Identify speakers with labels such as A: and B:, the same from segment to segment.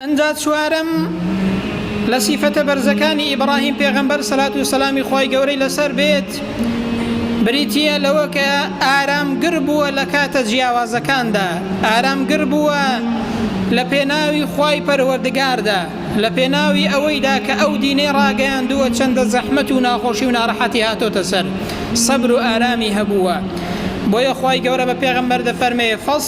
A: ئنجا چوارەم لە سیفەتە بەرزەکانی ئیبڕاهیم پێغەمبەر سەلات و سەلامی خوای گەورەی لەسەر بێت بریتییە لەوە کە ئارامگر بووە لە کاتە جیاوازەکاندا ئارامگر بووە لە پێناوی خوای پەروەردگاردا لە پێناوی ئەوەیدا کە ئەو دینەی ڕاگەیاندووە چەندە زەحمەت و ناخۆشی و ناڕەحەتی هاتۆتە سەر سەبر و ئارامی هەبووە بۆیە خوای گەورە بە پێغەمبەر دەفەرمێ فەس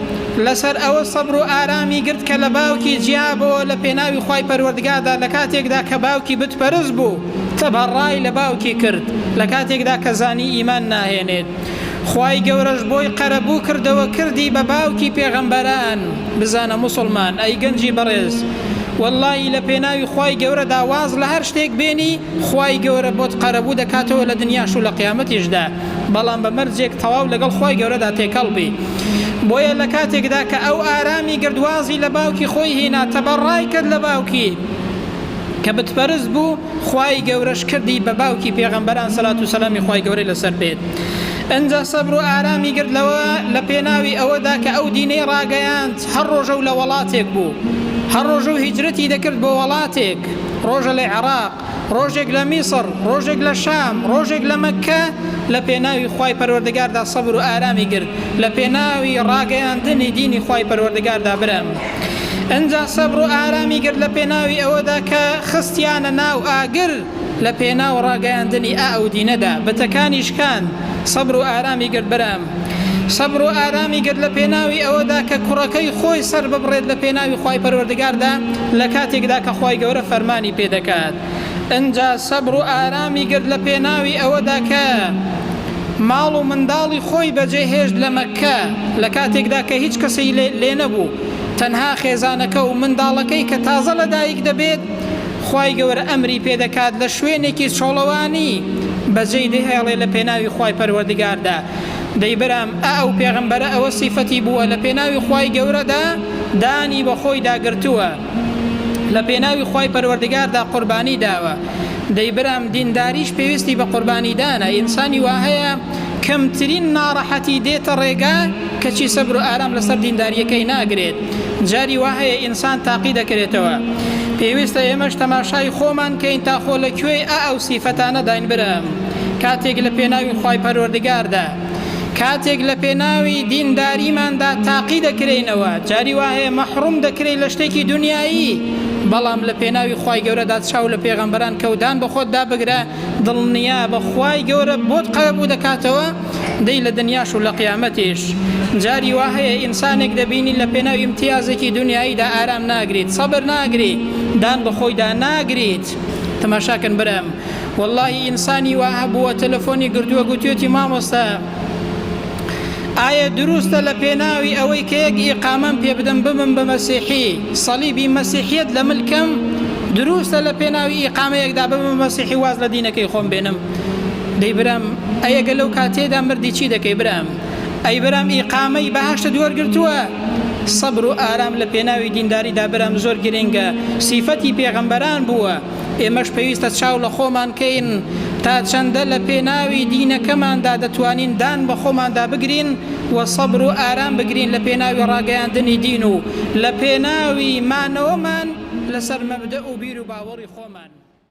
A: لەسەر ئەوە سەبر و ئارامی گرت کە لە باوکی جیابۆوە لە پێناوی خوای پەروەردگاردا لە کاتێکدا کە باوکی بت پەرست بوو تبەڕای لە باوکی کرد لە کاتێکدا کە زانی ئیمان ناهێنێت خوای گەورەش بۆی قەرەبوو کردەوە کردی بە باوکی پێغەمبەران بزانە موسڵمان ئەی گەنجی بەڕێز وەڵڵاهی لە پێناوی خوای گەورەدا واز لە هەر شتێک بێنی خوای گەورە بۆت قەرەبوو دەکاتەوە لە دنیاش و لە قیامەتیشدا بەڵام بە مەرجێک تەواو لەگەڵ خوای گەورەدا تێکەڵ بی بۆیە لە کاتێکدا کە ئەو ئارامی گرت وازی لە باوکی خۆی هینا تەبا ڕای کرد لە باوکی کە بتپەرست بوو خوای گەورەش کردی بە باوکی پێغەمبەران سەلات و سەلامی خوای گەورەی لەسەر بێت ئنجا سەبر و ئارامی گرت لەوە لە پێناوی ئەوەدا کە ئەو دینەی ڕاگەیاند هەر ڕۆژە و لە وەڵاتێک بوو هەر ڕۆژە و هیجرەتی دەکرد بۆ وەڵاتێک ڕۆژە لە عێڕاق ڕۆژێک لە میسڕ، ڕۆژێک لە شام، ڕۆژێک لە مەککە، لە پێناوی خوای پەروەردگاردا سەبر و ئارامی گرت، لە پێناوی ڕاگەیاندنی دینی خوای پەروەردگاردا برام. ئنجا سەبر و ئارامی گرت لە پێناوی ئەوەدا کە خستیانە ناو ئاگر لە پێناو ڕاگەیاندنی ئائەو دینەدا، بتەکانی شکاند، سەبر و ئارامی گرت برام. سەبر و ئارامی گرت لە پێناوی ئەوەدا کە کوڕەکەی خۆی سەرببڕێت لە پێناوی خوای پەروەردگاردا لە کاتێکدا کە خوای گەورە فەرمانی پێ دەکات ئنجا سەبر و ئارامی گرت لە پێناوی ئەوەدا کە ماڵ و منداڵی خۆی بەجێ هێشت لە مەککە لە کاتێکدا کە هیچ کەسی لێ نەبوو تەنها خێزانەکە و منداڵەکەی کە تازە لە دایک دەبێت خوای گەورە ئەمری پێ دەکات لە شوێنێکی چۆڵەوانی بەجێی دەهێڵێ لە پێناوی خوای پەروەردگاردا، دەی برام ئا ئەو پێغەمبەرە ئەوە سیفەتی بووە لە پێناوی خوای گەورەدا دانی بە خۆیدا گرتووە لە پێناوی خوای پەروەردگاردا قوربانی داوە دەی برام دینداریش پێویستی بە قوربانی دانە ئینسانی وا هەیە کەمترین ناڕەحەتی دێتە ڕێگا کەچی سەبر و ئارام لەسەر دینداریەکەی ناگرێت جاری وا هەیە ئینسان تاقی دەکرێتەوە پێویستە ئێمەش تەماشای خۆمان کەین تا خۆ لە کوێی ئا ئەو سیفەتانە داین برام کاتێک لە پێناوی خوای پەروەردگاردا کاتێک لە پێناوی دینداریماندا تاقی دەکرێینەوە جاری وا هەیە مەحڕوم دەکرێی لە شتێکی دنیایی بەڵام لە پێناوی خوای گەورەدا چاو لە پێغەمبەران کەودان بە خۆتدا بگرە دڵنیابە خوای گەورە بۆت قەرەبوو دەکاتەوە دەی لە دنیاش و لە قیامەتیش جاری وا هەیە ئینسانێک دەبینی لە پێناو ئیمتیازێکی دنیاییدا ئارام ناگریت سەبر ناگری دان بە خۆیدا ناگریت تەماشاکەن برام وەڵاهی ئینسانی وا هەبووە تەلەفۆنی گردووە گوتوێتی مامۆستا ئایە دروستە لە پێناوی ئەوەی کە یەک ئیقامەم پێ بدەم ببم بە مەسیحی سەلیبی مەسیحیت لە ملکم دروستە لە پێناوی ئیقامەیەکدا ببم مەسیحی واز لە دینەکەی خۆم بێنم دەی برام ئەیەگە لەو کاتێدا مردی چی دەکەی برام ئەی برام ئیقامەی بەهشت دوەرگرتووە سەبر و ئارام لە پێناوی دینداریدا برام زۆر گرنگە سیفەتی پێغەمبەران بووە ئێمەش پێویستە چاو لە خۆمان کەین تا چەندە لە پێناوی دینەکەماندا دەتوانین دان بە خۆماندا بگرین و سەبر و ئارام بگرین لە پێناوی ڕاگەیاندنی دین و لە پێناوی مانەوەمان لەسەر مەبدەئ و بیر و باوەڕی خۆمان.